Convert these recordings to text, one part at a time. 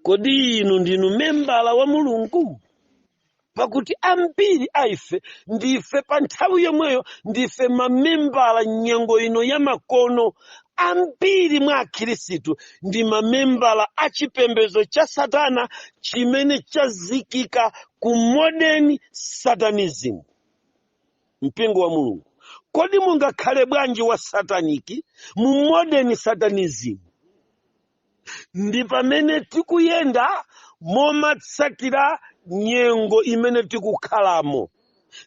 kodi inu ndinu membala wa mulungu pakuti ambiri a ife ndife pa nthawi yomweyo ndife mamembala nyengo ino ya makono ambiri mwa akhirisitu ndi mamembala a chipembedzo cha satana chimene chazikika ku modern satanism mpingo wa mulungu kodi mungakhale bwanji wa sataniki mu modern satanism ndi pamene tikuyenda momatsatira nyengo imene tikukhalamo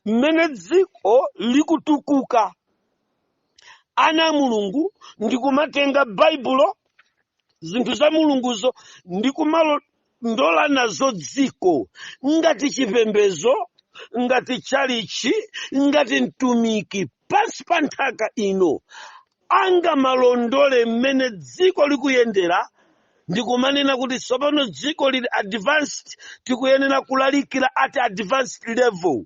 mmene dziko likutukuka ana a mulungu ndikumatenga baibulo zinthu za mulunguzo ndikumalo ndola nazo dziko ngati chipembezo ngati tchalichi ngati mtumiki pansi pa nthaka ino angomalondola mmene dziko likuyendera ndikumanena kuti tsopano dziko lili advanced tikuyenera kulalikira at advanced level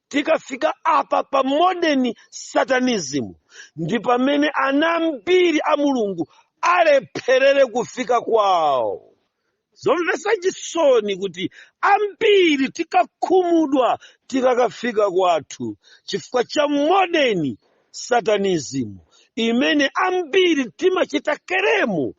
Tikafika apa pa modern Satanism ndi pamene ana ambiri a Mulungu alepherere kufika kwawo. Zomvetsa chisoni kuti ambiri tikakhumudwa tikakafika kwathu chifukwa cha modern Satanism imene ambiri timachita claim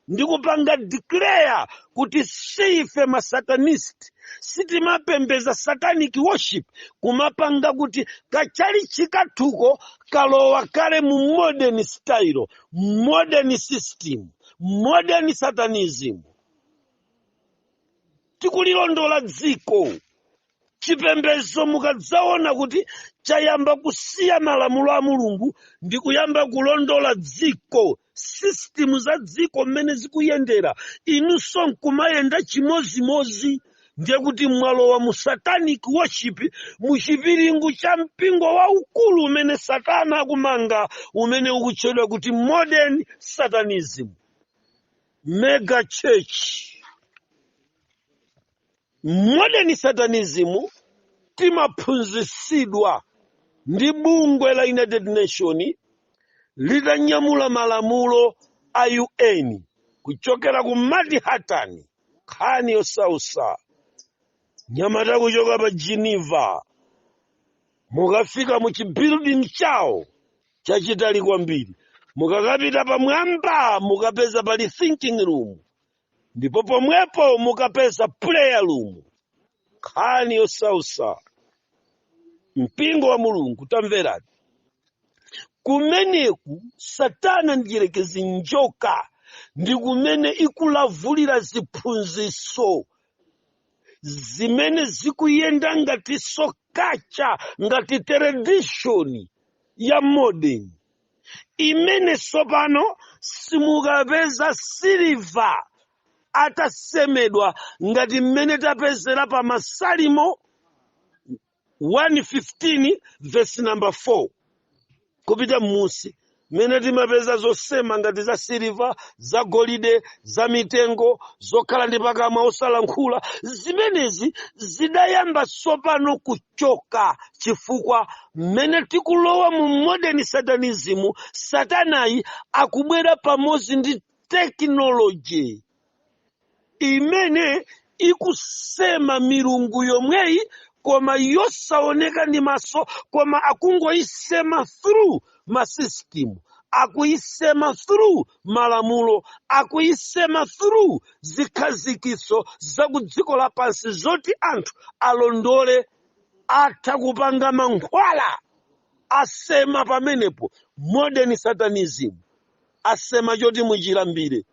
ndikupanga declare kuti siife masatanist sitimapembeza satanic worship kumapanga kuti kachalichi kathuko kalowa kale mu modern style modern system modern satanism tikulilondola dziko chipembedzo mukadzaona kuti chayamba kusiya malamulo a mulungu ndi kuyamba kulondola dziko system za dziko mmene zikuyendera inunso nkumayenda chimozimozi ndiye kuti mwalowa mu satanic worship mu chipiringu cha mpingo waukulu umene satana akumanga umene ukutchedwa kuti modern satanism mega church Modern Satanism timaphunzitsidwa ndi bungwe la United Nation litanyamula malamulo a UN kuchokera ku Manhattan, nkhani yosausa anyamata kuchoka pa Geneva mukafika mu chibuilding chawo chachitali kwambiri mukakapita pamwamba mukapeza pali thinking room ndipo pomwepo mukapeza prayer room nkhani yosausa mpingo wa mulungu tamverani kumeneku satana mdierekezi njoka ndi kumene ikulavulira ziphunziso zimene zikuyenda ngatinso culture ngati tradition ya modern imene tsopano simukapeza siliva atasemedwa ngati mmene tapezera pa masalimo 115 vesi namba 4 kupita m'munsi mmene timapeza zosema ngati za siliva za golide za mitengo zokhala ndi pakamwa osalankhula zimenezi zidayamba tsopano ku choka chifukwa mmene tikulowa mu modern satanism satanayi akubwera pamodzi ndi tekinoloji imene ikusema milungu yomweyi koma yosaoneka ndi maso koma akungoyisema through masystem akuyisema through malamulo akuyisema through zikhazikitso za ku dziko lapansi zoti anthu alondole atha kupanga mankhwala asema pamenepo modern satanism asema choti muchilambire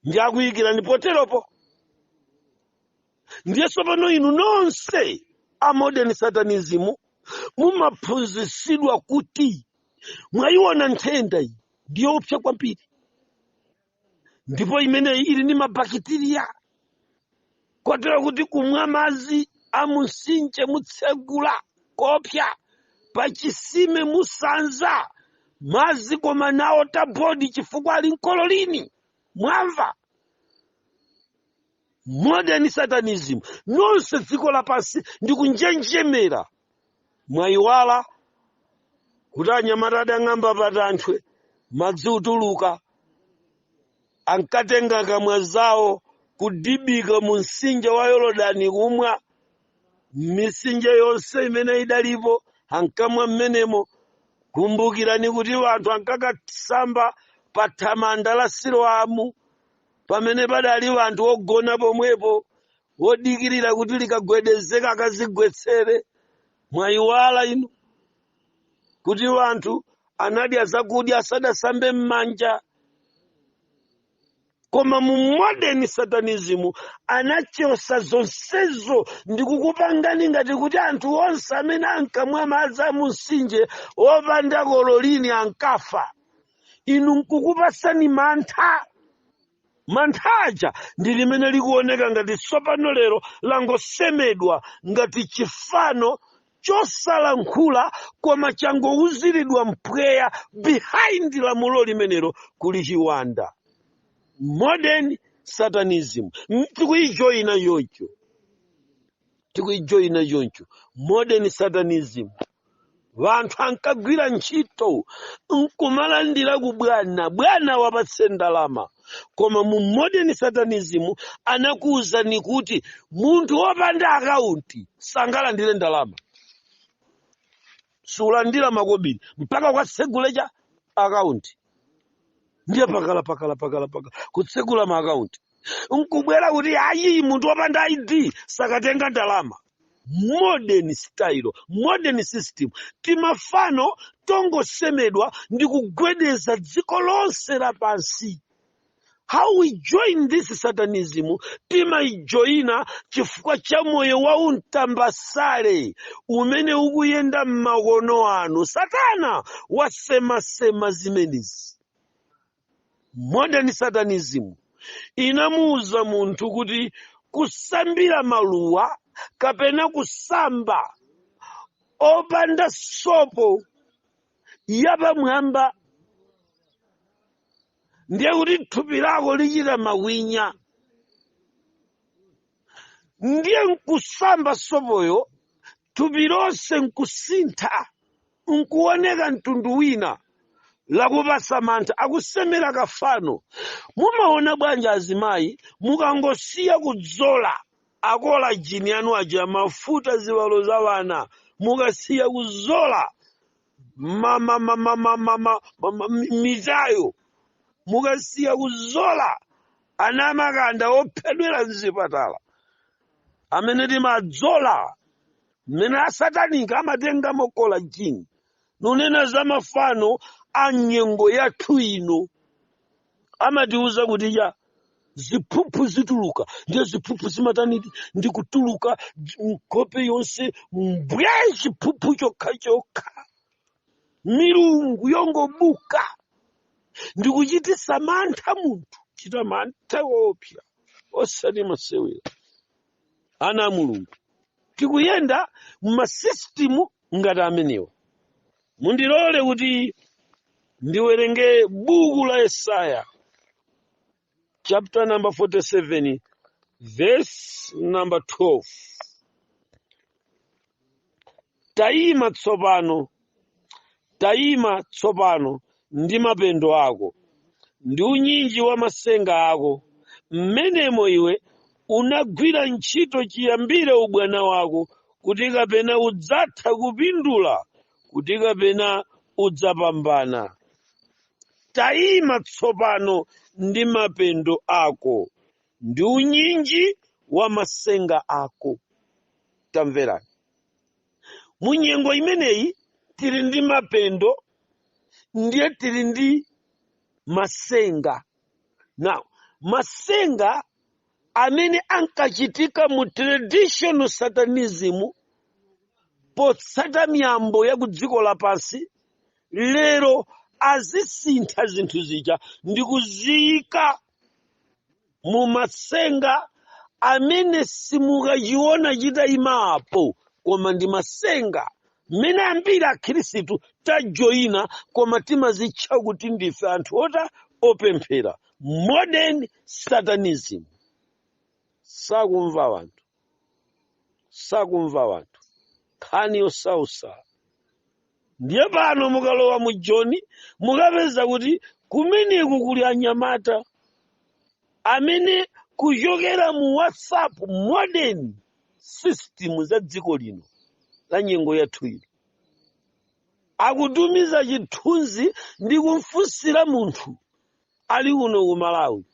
ndi akuyikirani poteropo ndiye tsopano inu nonse a modern satanism mumaphunzitsidwa kuti mwayiona nthenda iyi ndiyopsa kwambiri ndipo imeneyi ili ndi mabakitiriya kotero kuti kumwa madzi a mumtsinje mutsegula kopsa pa chisime musanza madzi koma n'a water board chifukwa ali n'kololini mwamva modern satanism nonse dziko lapansi ndikunjenjemera mwayiwala kuti anyamata adang'amba patanthwe madzi kutuluka ankatenga kamwa zawo kudibika mu mtsinje wa yorodani kumwa m'mitsinje yonse imene idalipo ankamwa mmenemo kumbukirani kuti anthu ankakasamba pa thamanda la siloamu pamene padali wanthu wogona pomwepo wodikirira kuti likagwedezeka akazigwetsere mwayiwala inu kuti wanthu anadya zakudya asadasambe m'manja koma mu modern satanism anachosa zonsezo ndi kukupangani ngati kuti anthu onse amene ankamwa madzi a mumtsinje opanda kololini ankafa inu nkukupatsani mantha mantha aja ndi limene likuoneka ngati tsopano lero langosemedwa ngati chifano chosalankhula koma changouziridwa mpweya behind lamulo limenelo kuli chiwanda modern satanism M- tikuijoyina choncho tikuijoyina choncho modern satanism wanthu ankagwira ntchito nkumalandira ku bwana bwana wapatse ndalama koma mu modern satanism anakuwuzani kuti munthu wopanda akaunti sangalandire ndalama sukulandira makobiri mpaka katsegule cha akaunti ndiye pakala pakala pakala pakala kutsegula maakaunti nkubwera kuti ayi munthu wopanda id sakatenga ndalama modern style modern system timafano tongosemedwa ndi kugwedeza dziko lonse lapansi how we join this satanism timaijoyina chifukwa cha moyo wa untambasale umene ukuyenda m'makono ano satana wasemasema zimenezi modern satanism inamuwuza munthu kuti kusambira maluwa kapena kusamba opanda sopo yapamwamba ndiye kuti thupi lako lichita makwinya ndiye nkusamba sopoyo thupi lonse nkusintha nkuoneka mtundu wina akupasa mantha akusemera kafano mumaona bwanji azimayi mukangosiya kuzola akolajini yanu aja mafuta ziwalo za wana mukasiya kuzola ma- ma- ma- ma- ma- ma- ma- ma- ma- mi- mitayo mukasiya kuzola ana amakanda ophedwera mzipatala amene timadzola amene asatanika amatenga mokolajini nunena za mafano a nyengo yathu ino amatiuza kuti ya ziphuphu zituluka ndiye ziphuphu zimatani ndi kutuluka nkhope yonse mbwe chiphuphu chokha chokha milungu yongobuka ndikuchitisa mantha munthu chita mantha woopsa osanamasewera ana a mulungu tikuyenda mmasisitimu ngati amenewa mundilole kuti ndiwerenge buku la yesaya chapter number 47 verse number 12 tayima tsopano tayima tsopano ndi mapendo ako ndi unyinji wa masenga ako mmenemo iwe unagwira ntchito chiyambire ubwana wako kuti kapena udzatha kupindula kuti kapena udzapambana tayima tsopano ndi mapendo ako ndi unyinji wa masenga ako tamverani mu nyengo imeneyi tili ndi mapendo ndiye tili ndi masenga now masenga amene ankachitika mu traditional satanism potsata miyambo ya ku dziko lapansi lero azisintha zinthu zija ndi kuziyika mu matsenga amene simukachiona chitayimapo koma ndi matsenga mmene ambiri akhirisitu tajoyina koma timazitcha kuti ndife anthu ota opemphera modern satanism sakumva wanthu sakumva wanthu nkhani yosausa ndiye pano mukalowa mu joni mukapeza kuti kumeneku kuli anyamata amene kuchokera mu whatsapp modern sisitimu za dziko lino la nyengo yathu ino akutumiza chithunzi ndi kumfunsira munthu ali uno ku malawi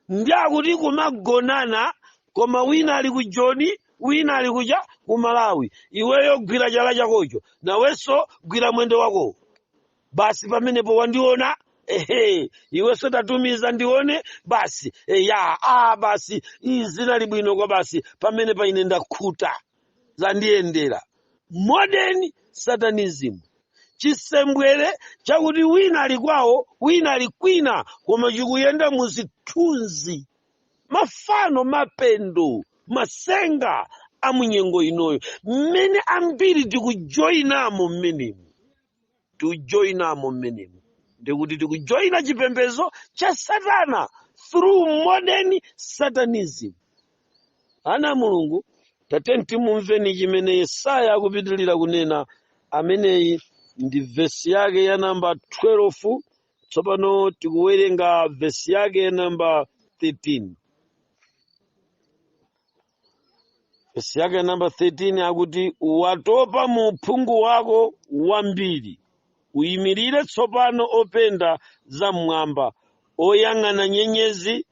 ndi akuti kumagonana koma wina ali ku joni wina ali kuja ku malawi iweyo gwira chala chakocho nawenso gwira mwendo wakowo basi pamenepo wandiona ehe iwenso tatumiza ndione basi eya a basi izi zinali bwino kwabasi pamenepa ine ndakhuta zandiyendera modern satanism chisembwere chakuti wina ali kwawo wina ali kwina koma chikuyenda mu zithunzi mafano mapendo masenga a mu nyengo inoyo mmene ambiri tikujoyinamo mmenemu tikujoinamo mmenemu ndikuti tikujoina chipembedzo cha satana through modern satanism ana a mulungu tatiyeni timumveni chimene yesaya akupitirira kunena ameneyi ndi vesi yake ya namba 12 tsopano tikuwerenga vesi yake ya namba 13 vesi yake namba 13 akuti watopa mu uphungu wako wambiri ayimirire tsopano openda za mmwamba oyang'ana nyenyezi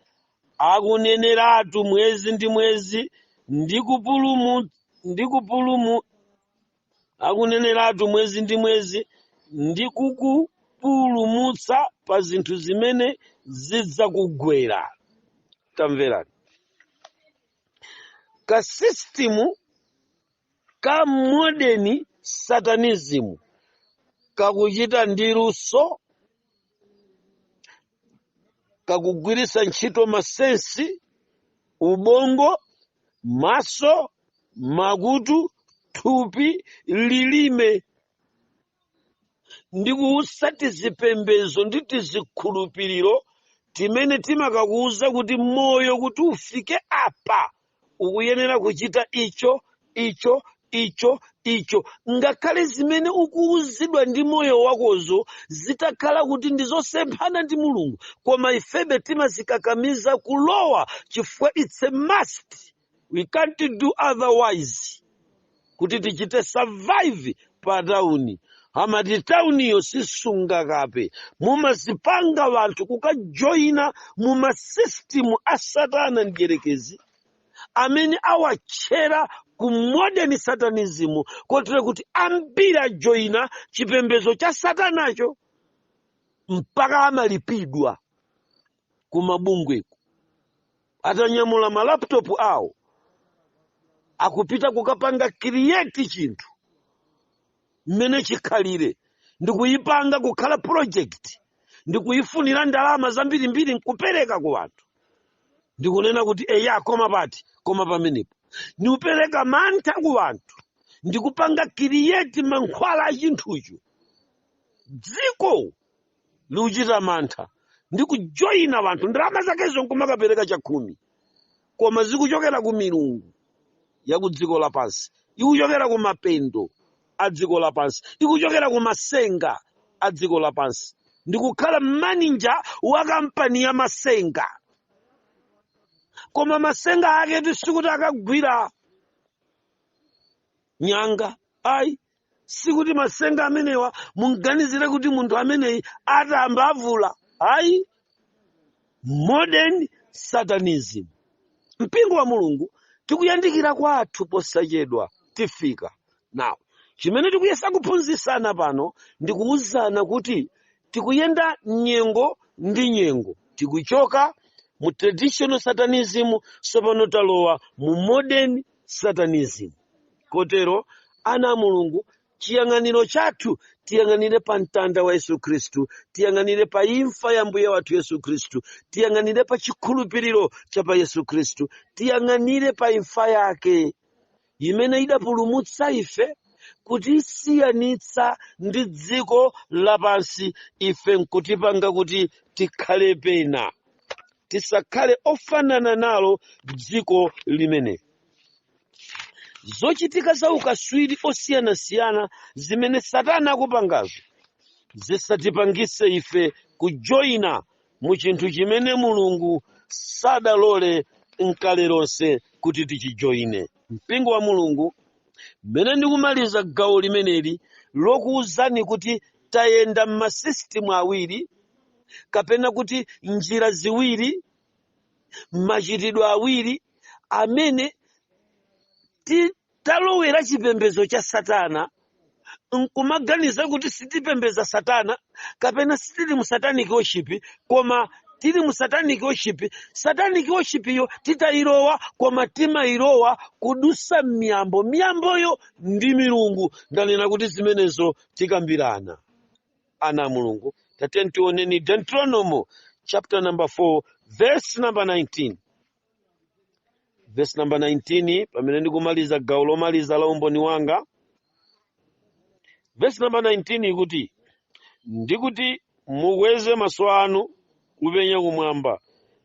akuneneratu mwezi ndi mwezi ndi kupulumu ndi kupulumu akuneneratu mwezi ndi mwezi ndi kukupulumutsa pa zinthu zimene zidzakugwera tamverani kasisitimu ka modern satanism kakuchita ndi luso kakugwiritsa ntchito masensi ubongo maso makutu thupi lilime ndi kuwutsa tizipembezo ndi tizikhulupiriro timene timakakuwuza kuti moyo kuti ufike apa ukuyenera kuchita icho icho icho icho ngakhale zimene ukuwuzidwa ndi moyo wakozo zitakhala kuti ndi zosemphana ndi mulungu koma ifebe timazikakamiza kulowa chifukwa it's a must we can't do otherwise kuti tichite survive pa tauni amati tauniyo sisunga kape mumazipanga wanthu kukajoyina mu masisitimu a satana mdyerekezi amene awatchera ku modern satanism kotero kuti ambiri ajoyina chipembedzo cha satanacho mpaka amalipidwa ku mabungweko atanyamula ma laptop awo akupita kukapanga create chinthu mmene chikhalire ndikuyipanga kukhala project ndikuyifunira ndalama zambirimbiri nkupereka ku anthu ndikunena kuti eya koma pati koma pamenepo ndikupereka mantha ku anthu ndikupanga create mankhwala a chinthucho dziko likuchita mantha ndi kujoyina wanthu ndalama zakezo nkumakapereka chakhumi koma zikuchokera ku milungu ya ku dziko lapansi ikuchokera ku mapendo a dziko lapansi ikuchokera ku masenga a dziko lapansi ndikukhala manija wa kampani ya masenga koma masenga ake sikuti akagwira nyanga ayi sikuti masenga amene mungaganizire kuti munthu ameneyi atamba avula ayi modern satanism mpingo wa mulungu tikuyandikira kwathu posachedwa tifika nawo chimene tikuyesa kuphunzisana pano ndi kuwuzana kuti tikuyenda nyengo ndi nyengo tikuchoka mu traditional satanism tsopano talowa mu modern satanism kotero ana a mulungu chiyang'aniro chathu tiyang'anire pa mtanda wa yesu khristu tiyang'anire pa imfa ya mbuye wathu yesu khristu tiyang'anire pa chikhulupiriro cha pa yesu khristu tiyang'anire pa imfa yake imene idapulumutsa ife kutisiyanitsa ndi dziko lapansi ife nkutipanga kuti tikhale pena tisakhale ofanana nalo dziko limene zochitika za ukaswiri osiyanasiyana zimene satana akupangazo zisatipangise ife kujoyina mu chinthu chimene mulungu sadalole nkale lonse kuti tichijoine mpingo wa mulungu mmene ndikumaliza gawo limeneli lokuwuzani kuti tayenda m'masisitimu awiri kapena kuti njira ziwiri machitidwe awiri amene ti- Talowera chipembedzo cha Satana n'kumaganiza kuti sitipembedza Satana kapena sitili mu satanic worship koma tili mu satanic worship. Satanic worship yo sitidailowa koma timailowa kudutsa m'miyambo. Miyamboyo ndi milungu. Ndanena kuti zimenezo tikambirana. Ana a Mulungu, tatiyeni tioneni Deuteronomo chapter number 4 verse number 19. vesi namba 19 pamene ndikumaliza gawo lomaliza la umboni wanga vesi namba 19 ikuti ndikuti mukweze maso anu kupenya kumwamba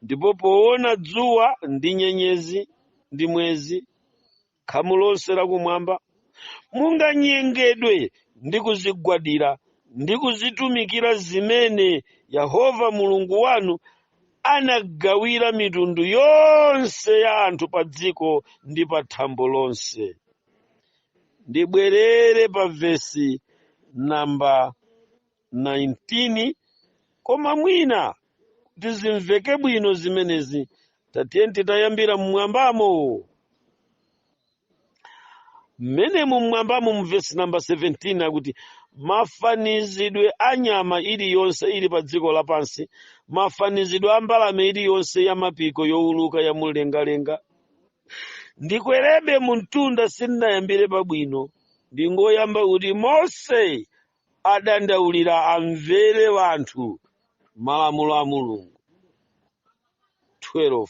ndipo poona dzuwa ndi nyenyezi ndi mwezi khamu lonse lakumwamba munganyengedwe ndi kuzigwadira ndi kuzitumikira zimene yehova mulungu wanu anagawira mitundu yonse ya anthu pa dziko ndi pa thambo lonse ndibwerere pa vesi namba 19 koma mwina kuti zimveke bwino zimenezi tatiyeni titayambira mmwambamo mmene mumwambamo mu vesi namba 17 akuti mafanizidwe a nyama iliyonse ili pa dziko lapansi mafanizidwe a mbalame iliyonse ya mapiko yowuluka ya mumlengalenga ndikwerebe mumtunda sindinayambire pabwino ndingoyamba kuti mose adandaulira amvere anthu malamulo a mulungu 12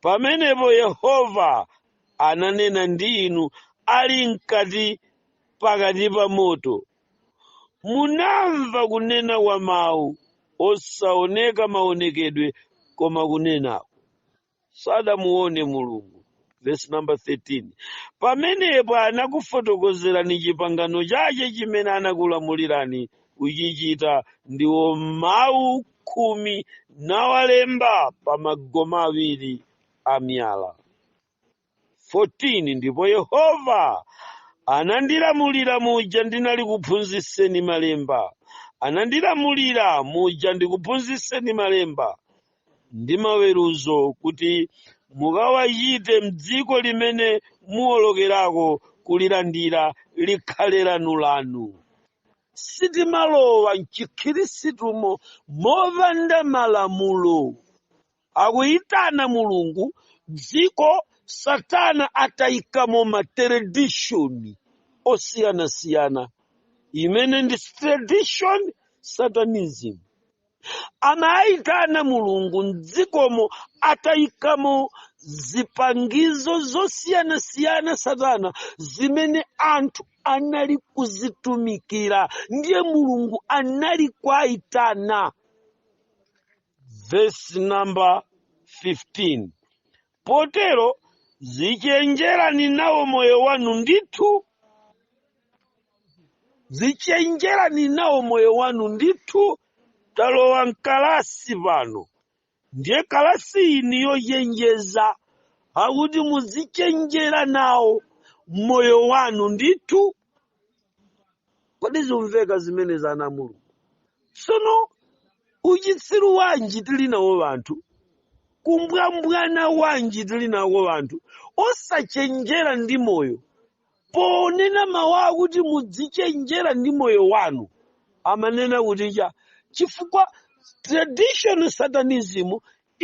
pamenepo yehova ananena ndi inu ali mkati pakati pa moto munamva kunena kwa mawu osaoneka maonekedwe koma kunena sadamuone mulungu verse number 13 pamenepo anakufotokozerani chipangano chache chimene anakulamulirani kuchichita ndiwo mawu khumi nawalemba pa magome awiri a miyala 14 ndipo Yehova anandilamulira muja ndinalikuphunzitseni malemba, anandilamulira muja ndikuphunzitseni malemba ndi maweruzo, kuti mukawachite m'dziko limene muwolokerako kulilandira likhale lanu lanu. Sitimalowa m'chikhiristumo mopanda malamulo. akuyitana mulungu dziko satana atayikamo ma tradition osiyanasiyana imene ndi traditional satanism amawayitana mulungu mdzikomo atayikamo zipangizo zosiyanasiyana satana zimene anthu anali kuzitumikira ndiye mulungu anali kuwayitana verse number 15 potero dzichenjerani nawo moyo wanu ndithu dzichenjerani nawo moyo wanu ndithu talowa mkalasi pano ndiye kalasi iyi ni yochenjeza akuti muzichenjera nawo moyo wanu ndithu kodi zimveka zimenezi ana a mulungu tsono uchitsiru wanji tili nawo wanthu kumbwambwana wanji tili nawo wanthu osachenjera ndi moyo ponena mawu akuti mudzichenjera ndi moyo wanu amanena kuti cha chifukwa traditional satanism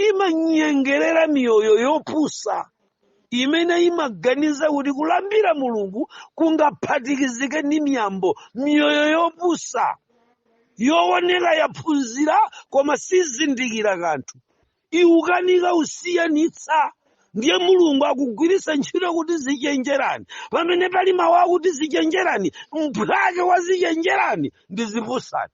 imanyengerera miyoyo yopusa imene imaganiza kuti kulambira mulungu kungaphatikizike ndi miyambo miyoyo yopusa yooneka yaphunzira koma yosazindikira kanthu ikukanika kusiyanitsa ndiye mulungu akugwiritsa ntchito kuti dzichenjerani pamene pali mawu akuti dzichenjerani mphwake wa dzichenjerani ndi dzipusani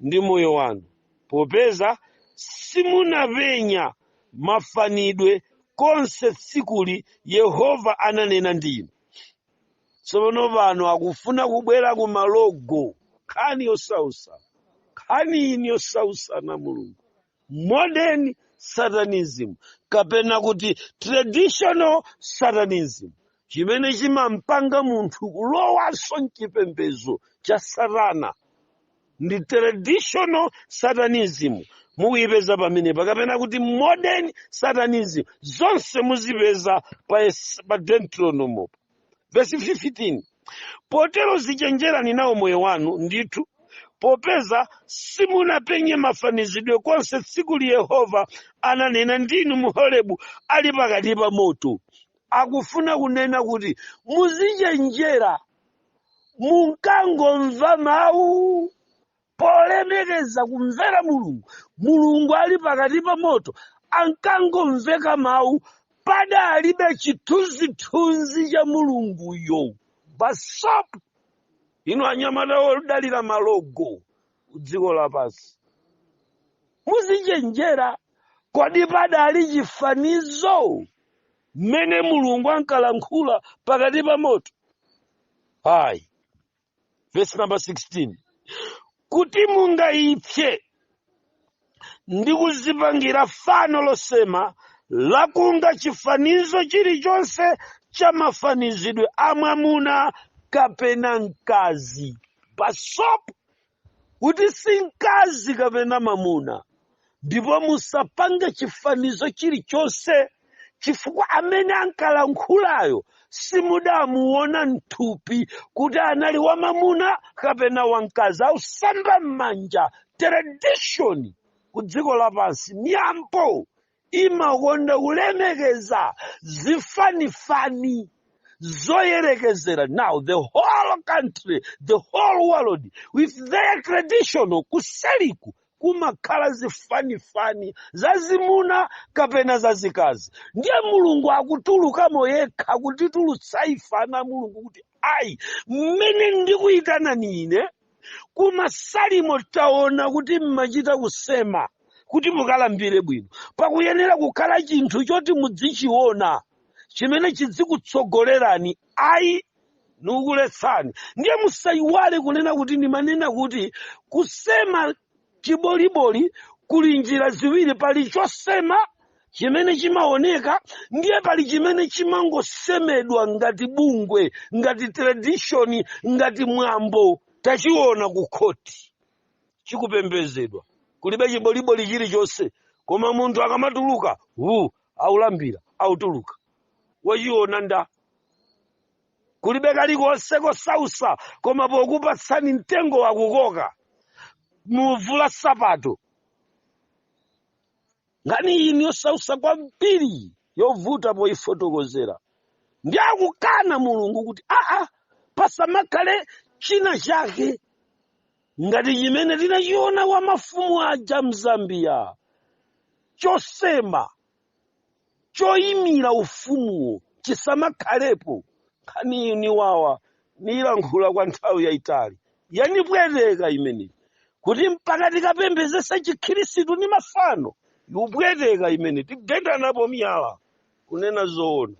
ndi moyo wanu, popeza simunapenya mafanizidwe konse tsiku li Yehova ananena ndi inu. Tsopano pano akufuna kubwera ku malogo, nkhani yosautsa, nkhani ino yosautsa Mulungu. modern satanism kapena kuti traditional satanism chimene chimampanga munthu kulowanso m'chipembedzo cha satana ndi traditional satanism mukuyipeza pamenepa kapena kuti modern satanism zonse muzipeza pa, es- pa deuteronomo vesi 15 potero zichenjerani nawo moyo wanu ndithu popeza simunapenye mafanizidwe konse tsiku li yehova ananena ndi inu m'horebu ali pakati pa moto akufuna kunena kuti muzichenjera munkangomva mawu polemekeza kumvera mulungu mulungu ali pakati pa moto ankangomveka mawu padalibe chithunzithunzi cha mulunguyo basopo inu anyamata odalira malogo kudziko lapansi muzichenjera kodi padali chifanizo mmene mulungu ankalankhula pakati pa moto ayi vesi namba 16 kuti mungaipse ndi kuzipangira fano losema lakunga chifanizo chilichonse cha mafanizidwe a mwamuna kapena mkazi basopo kuti si mkazi kapena mwamuna ndipo musapange chifanizo chilichonse chifukwa amene ankalankhulayo simudamuona mthupi kuti anali wamamuna kapena wamkazi ausamba m'manja tradition ku dziko lapansi miyambo imakonda kulemekeza zifanifani zoyerekezera now the whole country the whole world with their traditional kuseliku kumakhala zifanifani zazimuna kapena zazikazi ndiye mulungu akutulukamo yekha kutitulutsa ife ana a mulungu kuti ayi mmene ndikuyitanani ine kumasalimo taona kuti mumachita kusema kuti mukalambire bwino pakuyenera kukhala chinthu choti mudzichiona chimene chidzikutsogolerani ayi nikukuletsani ndiye musayiwale kunena kuti ndimanena kuti kusema chiboliboli kuli njira ziwiri pali chosema chimene chimaoneka ndiye pali chimene chimangosemedwa ngati bungwe ngati tradishoni ngati mwambo tachiona ku khoti chikupembezedwa kulibe chiboliboli chilichonse koma munthu akamatuluka wu aulambira autuluka wachiona nda kulibe kalikonse kosausa koma pokupatsani mtengo wakukoka muvula sapato nkhani iyi ni yosausa kwambiri yovuta poyifotokozera ndi akukana mulungu kuti aa pasamakhale china chake ngati chimene tinachiona wa mafumu aja mzambiya chosema choyimira ufumuwo chisamakhalepo. Nkhaniyi yaniwawa, niyilankhula kwa nthawi yayitali. Yanipweteka imeneyi kuti mpaka tikapembezesa chikhirisitu ndi mafano. Yupweteka imeneyi, tigendanapo miyala kunena zoona.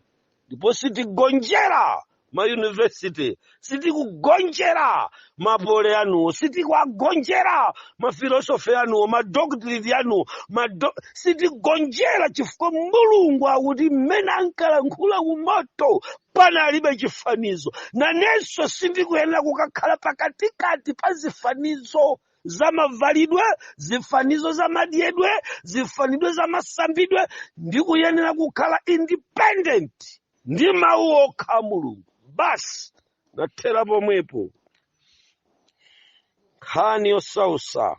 ndipo sitigonjera mayunivesiti sitikugonjera mapole anuwo sitikuagonjera mafilosofi anuwo madoktreti anuwo mado... sitigonjera chifukwa mulungu akuti mmene ankalankhula kumoto panalibe chifanizo nanenso sindikuyenera kukakhala pakatikati pa zifanizo za mavalidwe zifanizo za madyedwe zifanidwe za masambidwe ndikuyenera kukhala independent ndi mawu okha a mulungu basi nathera pomwepo nkhani yosausa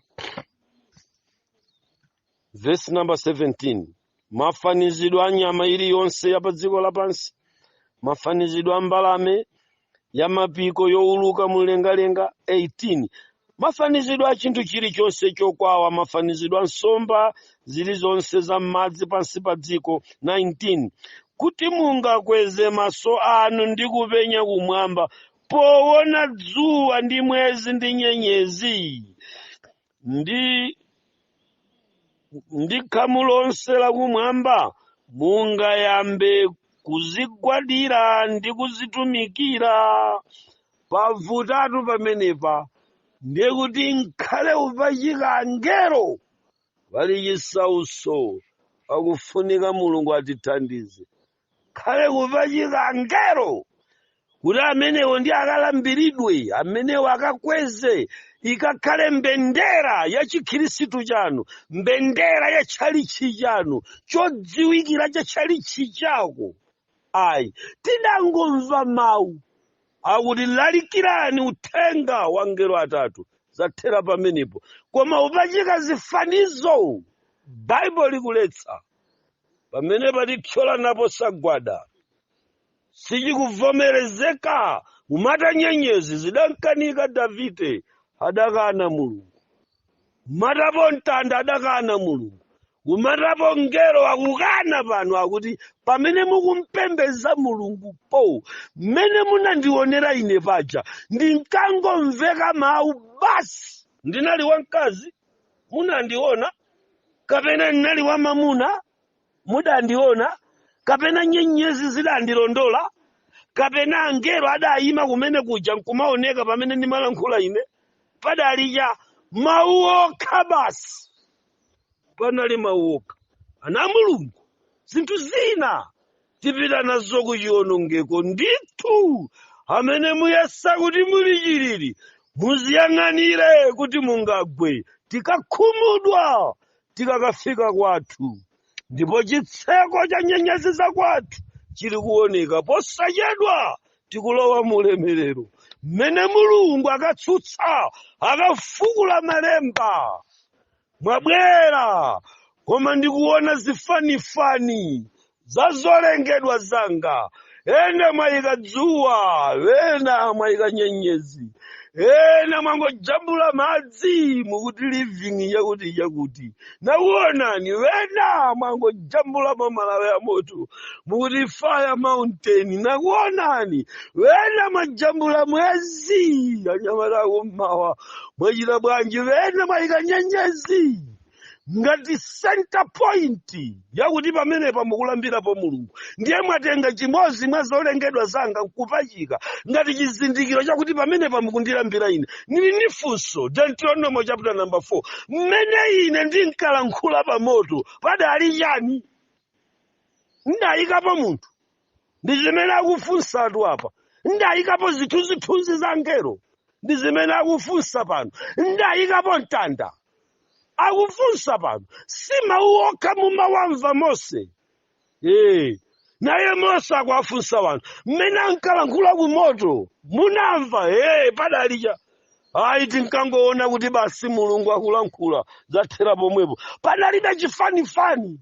vesi namba 17 mafanizidwe a nyama iliyonse ya pa dziko lapansi mafanizidwe a mbalame ya mapiko yowuluka mlengalenga 18 mafanizidwe a chinthu chilichonse chokwawa mafanizidwe a nsomba zilizonse za m'madzi pansi pa dziko 19 kuti mungakweze maso anu ndi kupenya kumwamba powona dzuwa ndi mwezi ndi nyenyezi ndi ndi khamu lonse lakumwamba mungayambe kuzigwadira ndi kuzitumikira pavutatu pamenepa ndiye kuti nkhale upachika angelo pali chisauso akufunika mulungu atithandize khale kupachika ngelo kuti amenewo ndiye akalambiridwe amenewo akakweze ikakhale mbendera ya chikhristu chanu mbendera ya tchalichi chanu chodziwikira cha tchalichi chako ayi tidangomva mawu akuti lalikirani uthenga wa ngelo atatu zathera pamenepo koma kupachika zifanizo baibulo likuletsa pamene patithyolanapo nsagwada sichikuvomerezeka kumata nyenyezi zidamkanika davide adakana mulungu kumatapo mtanda adakana mulungu kumatapo ngelo akukana pano akuti pamene mukumpembeza mulungu po mmene munandionera ine paja ndinkangomveka mawu basi ndinali wamkazi mudandiona kapena ndinali wamamuna mudandiona kapena nyenyezi zidandilondola kapena angelo adayima kumene kuja nkumaoneka pamene ndimalankhula ine padali chani mawu okha basi panali mawu okha ana a mulungu zinthu zina tipita nazo ku chiwonongeko ndithu amene muyesa kuti muli chiriri muziyang'anire kuti mungagwe tikakhumudwa tikakafika kwathu ndipo chitseko cha nyanja ziza kwathu chili kuoneka posachedwa tikulowa mu ulemerero mmene mulungu akatsutsa akafukula malemba mwabwera koma ndikuona zifanifani za zolengedwa zanga ena mwayika dzuwa ena mwayika nyenyezi ena mwangojambula madzi mukuti living yakuti yakuti nakuonani ena mwangojambulamo malawi a moto mukuti fire mountain nakuonani ena mwajambula mwezi anyamata akummawa mwachita bwanji ena mwayika nyenyezi ngati center point yakuti pamenepa mukulambirapo mulungu ndiye mwatenga chimodzi mwa zolengedwa zanga nkupachika ngati chizindikiro chakuti pamenepa mukundilambira ine ndili ndi funso deuteronomo chapter number 4 mmene ine ndinkalankhula pa moto padali chani ndayikapo munthu ndi zimene akufunsatu apa ndayikapo zithunzithunzi za ngelo ndi zimene akufunsa pano ndayikapo mtanda akufunsa pano si mawu okha mumawamva mose ee naye mose akuwafunsa wanthu mmene ankalankhula ku moto munamva ee padali chani ayi tinkangoona kuti basi mulungu akulankhula zathera pomwepo padalibe chifanifani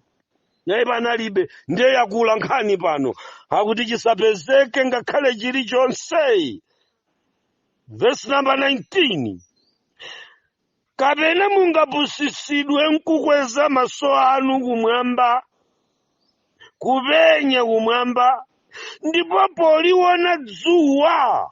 nayi panalibe ndiye yakula nkhani pano akuti chisapezeke ngakhale chilichonse vesi namba 19 kapena mungapusitsidwe nkukweza maso anu kumwamba kupenya kumwamba ndipo poliona dzuwa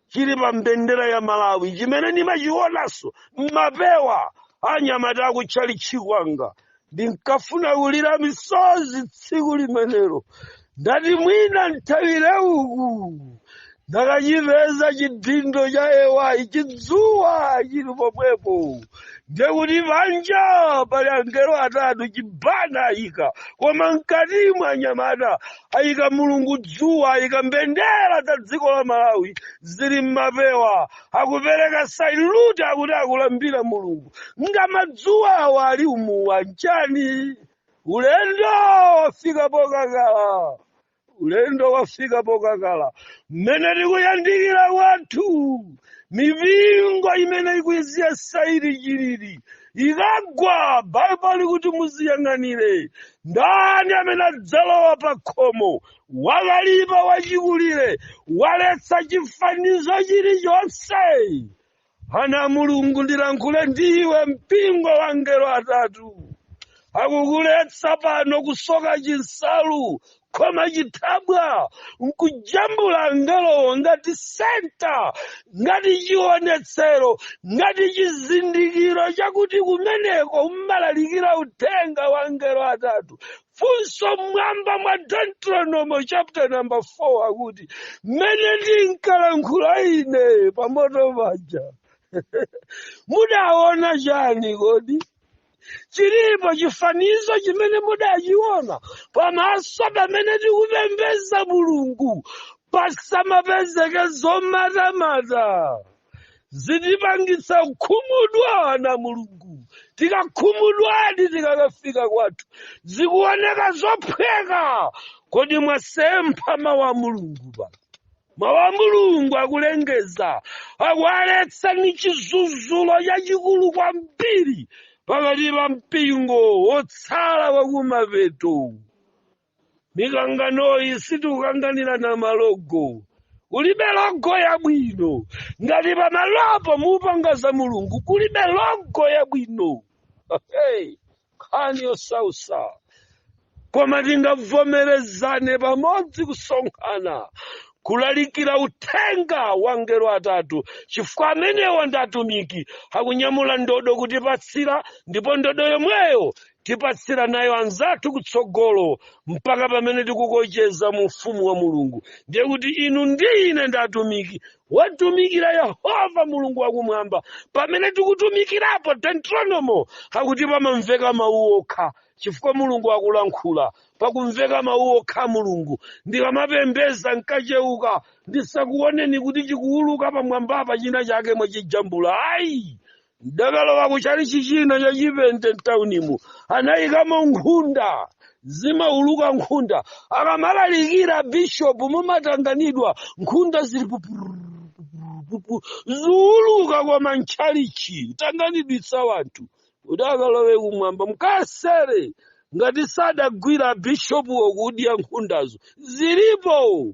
chili pa mbendera ya malawi chimene ndimachionanso mmapewa anyamata akutchalitchi kwanga ndinkafuna kulira misozi tsiku limenelo ndati mwina nthawire uku ndakachipeza chidindo cha AY chidzuwa chili pomwepo ndiye kuti panja pali angelo atatu chibana ayika koma mkati mwa anyamata ayika mulungu dzuwa ayika mbendera za dziko la malawi zili mmapewa akupereka sailuti akuti akulambira mulungu ngamadzuwawa ali umuwa nanjani ulendo wafika pokakala ulendo wafika pokakala mmene tikuyandikira kwathu mipingo imene ikuyesedwa ili chilili ikagwa baibulo likuti muziyang'anire ndani amene adzalowa pa khomo wakalipa wachikulire waletsa chifanizo chilichonse Ana a Mulungu ndilankhule ndiwe mpingo wa angelo atatu akukuletsa pano kusoka chinsalu kukhoma chithabwa nkujambula angelowo ngati senta ngati chionetsero ngati chizindikiro chakuti kumeneko umalalikira uthenga wa angelo atatu funso mmwambamwa deuteronomo chapter number 4 akuti mmene ndinkalankhula ine pamoto paja mudaona chani kodi chilipo chifanizo chimene mudachiona pamaso pamene tikupembeza mulungu pasamapezeke zomatamata zitipangitsa kukhumudwa ana a mulungu tikakhumudwadi tikakafika kwathu zikuoneka zophweka kodi mwasempha mawu a mulungu pa mawu a mulungu akulengeza akuwaletsa ndi chidzudzulo chachikulu kwambiri pakati pa mpingo wotsala wakumapeto mikanganoyi sitikukanganirana malogo kulibe logo yabwino ngati pamalopo mukupanga za mulungu kulibe logo yabwino hey, nkhani yosausa koma tingavomerezane pamodzi kusonkhana kulalikira uthenga wa angelo atatu chifukwa amenewa ndi atumiki akunyamula ndodo kutipatsira ndipo ndodo yomweyo Tipatsirana nayo anzathu kutsogolo mpaka pamene tikukocheza mu ufumu wa Mulungu. Ndiye kuti inu ndi ine ndi atumiki wotumikira Yehova Mulungu wakumwamba. Pamene tikutumikirapo, Deuteronomo akuti pamamveka mawu okha chifukwa Mulungu akulankhula. Pakumveka mawu okha a Mulungu. Ndikamapembeza nkacheuka ndisakuoneni kuti chikuwuluka pamwambapa china chake mwachijambula. Ayi! ndakalowa ku chalichi china cha chipente mtaunimo anayikamo nkhunda zimauluka nkhunda akamalalikira bishopu mumatanganidwa nkhunda zili pupurupupurupupu ziuluka koma mchalichi tanganidwitsa wanthu kuti akalowe kumwamba mkasere ngati sadagwira bishopu wokudya nkhundazo zilipo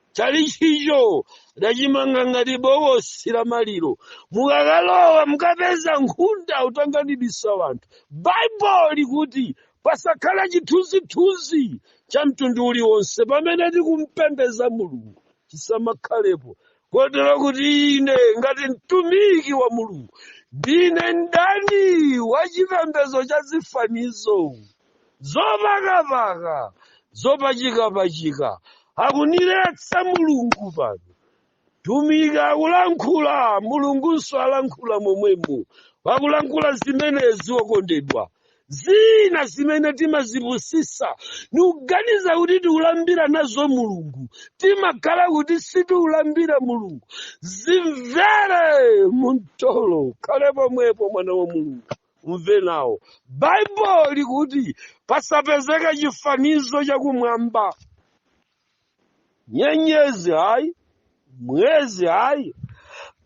tchalitchicho adachimanga ngati bokosi la maliro mukakalowa mukapeza nkhunda utanganidisa wanthu baibulo likuti pasakhala chithunzithunzi cha mtundu uliwonse pamene tikumpembeza mulungu chisamakhalepo kotero kuti ine ngati mtumiki wa mulungu ndine mdani wa chipembezo cha zifanizo zopakapaka zopachikapachika akuniletsa mulungu pano mtumiki akulankhula mulungunso alankhula momwemo akulankhula zimenezi wokondedwa zina zimene timazipusisa nikuganiza kuti tikulambira nazo mulungu timakhala kuti sitikulambira mulungu zimvere mumtolo khale pomwepo mwana wa mulungu umve nawo baibulo likuti pasapezeka chifanizo chakumwamba nyenyezi hayi mwezi hayi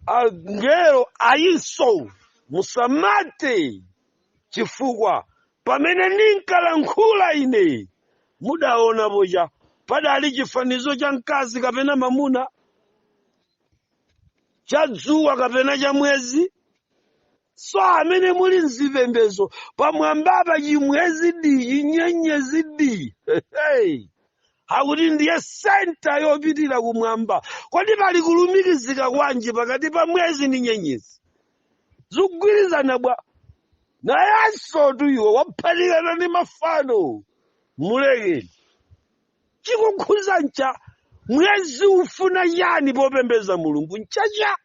angelo ayinso musamate chifukwa pamene ndinkalankhula ine mudaonapo chapadali chifanizo cha mkazi kapena mamuna cha dzuwa kapena cha mwezi so amene muli mzipembezo pamwambapa chimwezi diyi nyenyezi diyi akuti ndiye senta yopitira kumwamba kodi pali kulumikizika kwanji pakati pa mwezi ndi nyenyezi zikugwirizana bwa nawenso tu iwe waphatikizana ndi mafano mulekeni chikukhuza ncha mwezi ufuna chani popembeza mulungu nchacha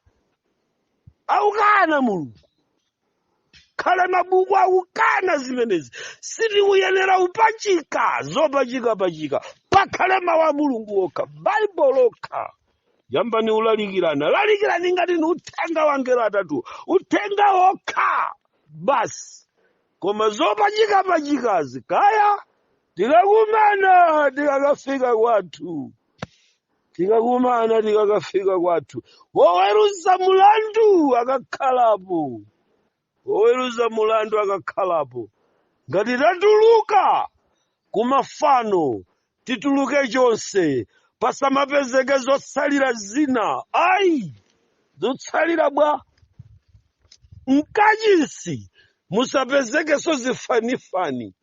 akukana mulungu pakhale mabuku akukana zimenezi sitikuyenera upachika zopachika pachika pakhale mawu a mulungu okha baibulo lokha yambani ulalikirana lalikirani ngati ni uthenga wa angelo atatu uthenga okha basi koma zopachika pachikazi kaya tikakumana tikakafika kwathu tikakumana tikakafika kwathu woweruza mulandu akakhalapo woweruza mulandu akakhalapo ngati tatuluka kumafano tituluke chonse pasamapezeke zotsalira zina ayi zotsalira bwanji mkachisi musapezekenso zifanifani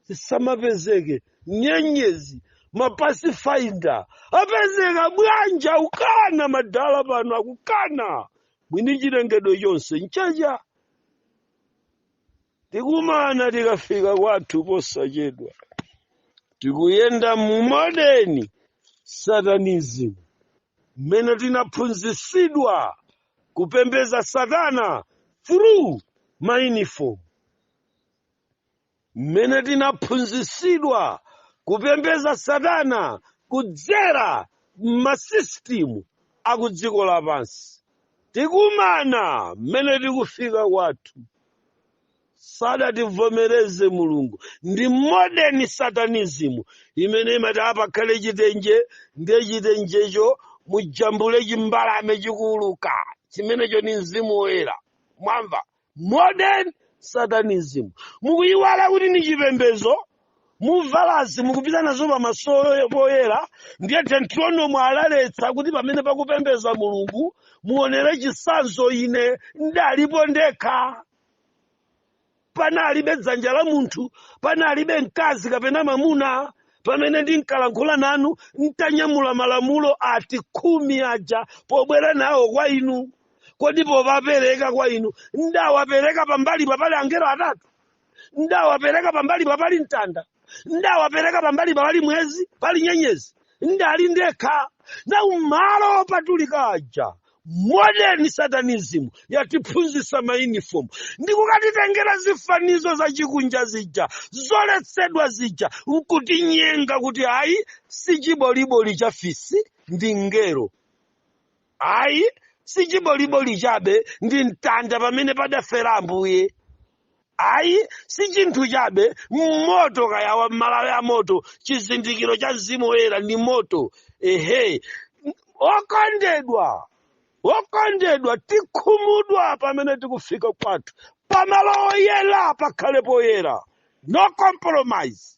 zisamapezeke nyenyezi mapasifainda apezeka bwanji akukana madala pano akukana mwini chilengedwe chonse nchake tikumana tikafika kwathu posachedwa tikuyenda mu modern satanism mmene tinaphunzitsidwa kupembeza satana through mauniform mmene tinaphunzitsidwa kupembeza satana kudzera m'masisitimu akudziko lapansi tikumana mmene tikufika kwathu sadativomereze mulungu ndi modern satanism imene imati apakhale chitenje ndiye chitenjecho mujambule chimbalame chikuuluka chimenecho ndi mzimu woyera mwamva modern satanism mukuyiwala kuti ndi chipembezo mukuvalazi mukupita nazo pamaso poyera ndiye deuteronomo analetsa kuti pamene pakupembeza mulungu muonere chisanzo ine ndalipo ndekha panalibe dzanja la munthu panalibe mkazi kapena mamuna pamene ndinkalankhula nanu ntanyamula malamulo ati khumi aja pobwera nawo kwa inu kodi powapereka kwa inu ndawapereka pambali papali angelo atatu ndawapereka pambali papali mtanda ndawapereka pambali papali mwezi pali nyenyezi ndali ndekha nawo malo opatulika aja modern satanism yatiphunzitsa maunifomu ndikukatitengera zifanizo za chikunja zija zoletsedwa zija nkutinyenga kuti ayi si chiboliboli cha fisi ndi ngelo ayi si chiboliboli chabe ndi mtanda pamene padafera ambuye ayi si chinthu chabe moto kaya wa malawi a moto chizindikiro cha mzimu woyera ndi moto ehe okondedwa okondedwa tikukhumudwa pamene tikufika kwathu pamalo oyera pakhale poyera no compromise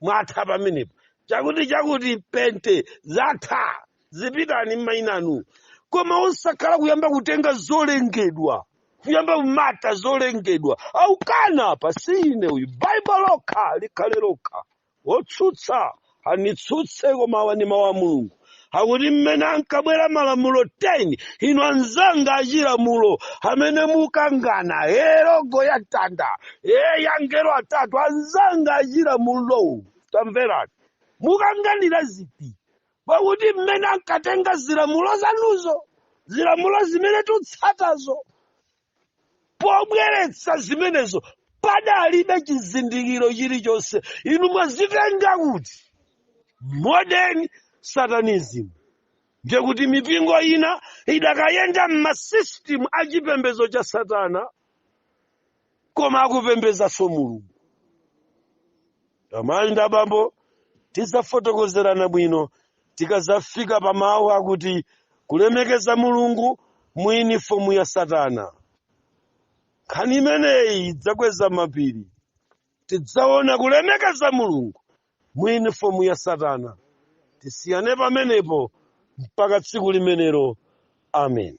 mwatha pamenepo chakuti chakuti pente zatha zipitani m'mayina anu koma osakhala kuyamba kutenga zolengedwa kuyamba kumata zolengedwa akukana apa si ine uyu baibulo lokha likhale lokha wotsutsa anitsutse koma awa ndi mawu a mulungu akuti mmene ankabwera malamulo 10 inu anzanga achilamulo amene mukangana logo ya mtanda ya angelo atatu anzanga achilamulowo tamverani mukanganira ziti pakuti mmene ankatenga chilamulo zanuzo zilamulo zimene tikutsatazo pobweretsa zimenezo padalibe chizindikiro chilichonse inu mwazitenga kuti modern satanism ndiye kuti mipingo ina ikadayenda m'masystem a chipembedzo cha satana koma akupembedzanso mulungu amayi ndi abambo tidzafotokozerana bwino tikadzafika pa mawu akuti kulemekeza mulungu mu yunifomu ya satana nkhani imeneyi idzakweza mapiri tidzaona kulemekeza mulungu mu yunifomu ya satana tisiyane pamenepo mpaka tsiku limenelo amen